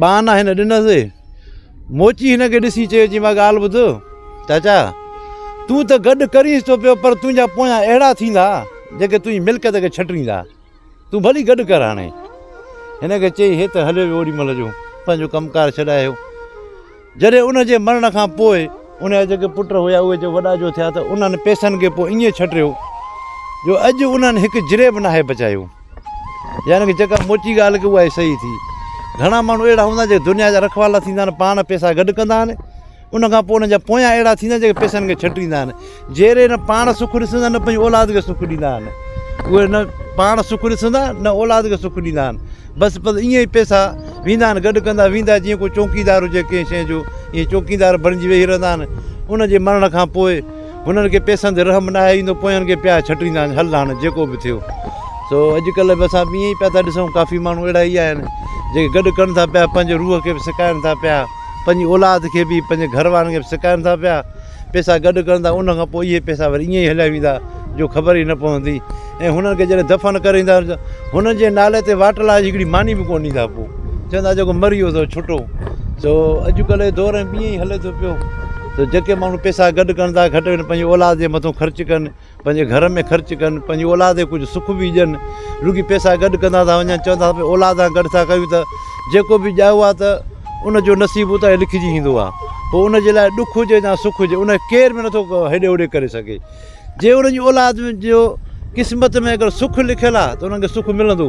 ٻانهن هن ڏنس، موچي هن کي ڏسي چيو، چيائين، مان ڳالهه ٻڌ، چاچا! تون ته گڏ ڪرينس ٿو پيو، پر تنهنجا پويان اهڙا ٿيندا، جيڪي تنهنجي ملڪيت کي ڇٽريندا. تون ڀلي گڏ ڪر هاڻي. هن کي چئي هي ته هليو ويو اوڏي مهل جو، پنهنجو ڪم ڪار ڇڏائي. جڏهن ان جي مرڻ کان پوء ان جا جيڪي پٽ هيا اهي جو وڏا جو ٿيا ته انهن پئسن کي پوء ائين ڇٽيو جو اڄ انهن هڪ جري به ناهي بچايو يعني ڪه جيڪا موچي ڳالهه ڪي اها ئي صحيح ٿي گهڻا ماڻهو اهڙا هوندا جيڪي دنيا جا رکوالا ٿيندا آهن پاڻ پئسا گڏ ڪندا آهن ان کان پوء ان جا پويان اهڙا ٿيندا آهن جيڪي پئسن کي ڇٽيندا آهن جهڙي نه پاڻ سک ڏسندا نه پنهنجي اولاد کي سک ڏيندا آهن اهي نه پاڻ سک ڏسندا نه اولاد کي سک ڏيندا آهن بس بس ائين ئي پيسا ويندا آهن گڏ ڪندا ويندا جيئن کو چوڪيدار هجي ڪنهن شيء جو ائين چوڪيدار بڻجي ويهي رهندا آهن ان جي مرڻ کان پوء هنن کي پيسن تي رحم نه آهي ايندو پويان کي پيا ڇٽيندا آهن هل هاڻ جيڪو به ٿيو سو اڄڪلهه به اسان ائين ئي پيا ٿا ڏسون ڪافي ماڻهو اهڙا ئي آهن جيڪي گڏ ڪن ٿا پيا پنهنجي روح کي به سڪائن ٿا پيا پنهنجي اولاد کي به پنهنجي گهر وارن کي به سڪائن ٿا پيا پئسا گڏ ڪرندا ۽ ان کان پوء اهي پئسا وري ائين ئي هليا ويندا جو خبر ئي نه پوندي ۽ هنن کي جڏهن دفن ڪري ايندا ته هنن جي نالي تي واٽ لاء هڪڙي ماني به ڪونه ڏيندا پوء چوندا جيڪو مري ويو سو ڇٽو سو اڄڪلهه جو دور ائين ئي هلي ٿو پيو سو جيڪي ماڻهو پئسا گڏ ڪرندا گهٽ ۾ گهٽ پنهنجي اولاد جي مٿو خرچ ڪن پنهنجي گهر ۾ خرچ ڪن، پنهنجي اولاد کي ڪجهه سک به ڏين، رڳي پئسا گڏ ڪندا ٿا وڃن، چون ٿا ڀي اولاد سان گڏ ٿا ڪيون ته جيڪو به ڄائو آهي ته ان جو نصيب اتان ئي لکجي ايندو آهي، پوء ان جي لاء ڏک هجي يا سک هجي ان کي ڪير به نه ٿو هيڏي هوڏي ڪري سگهي، جي انهن جي اولاد جو قسمت ۾ اگر سک لکيل آهي ته انهن کي سک ملندو.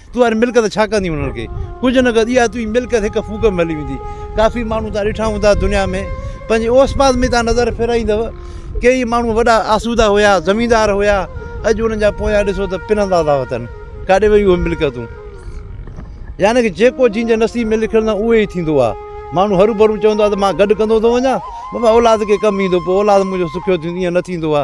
تون هر ملڪت ڇا ڪندين انهن کي ڪجهه نه ڪندين اها تنهنجي ملڪت هڪ ڦوڪ ۾ هلي ويندي ڪافي ماڻهو تان ڏٺا هوندا دنيا ۾ پنهنجي اوس پاس ۾ تان نظر ڦيرائيندو ڪيئي ماڻهو وڏا آسودا هيا زميندار هيا اڄ انهن جا پويان ڏسو ته پنهندا ٿا وتن ڪاڏي ويون اهي ملڪتون يعني ڪي جيڪو جنهنجي نصيب ۾ لکيل نه اهو ئي ٿيندو آ ماڻهو هرو ڀرو چوندو آ ته مان گڏ ڪندو ٿو وڃان بابا اولاد کي ڪم ايندو پوء اولاد منهنجو سکيو ٿيندو ايئن نه ٿيندو آ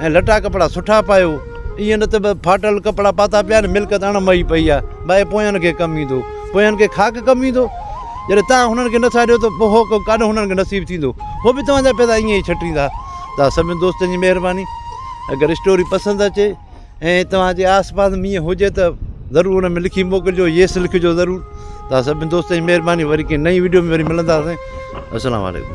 ۽ لٽا ڪپڙا سٺا پايو، ائين نه ته ڦاٽل ڪپڙا پاتا پيا آهن، ملڪت اڻ مئي پئي آهي، باهه پويان کي ڪم ايندو، پويان کي خاڪ ڪم ايندو، جڏهن توهان هنن کي نه ساڙيو ته پوء هو ڪاڏو هنن کي نصيب ٿيندو، هو به توهان جا پيدا ائين ئي ڇٽيندا. توهان سڀني دوستن جي مهرباني. اگر اسٽوري پسند اچي ۽ توهان جي آس پاس ۾ ائين هجي ته ضرور ان ۾ لکي موڪلجو Yes لکجو ضرور. توهان سڀني دوستن جي مهرباني وري ڪنهن نئين وڊيو ۾ وري ملنداسين. السلام عليڪم.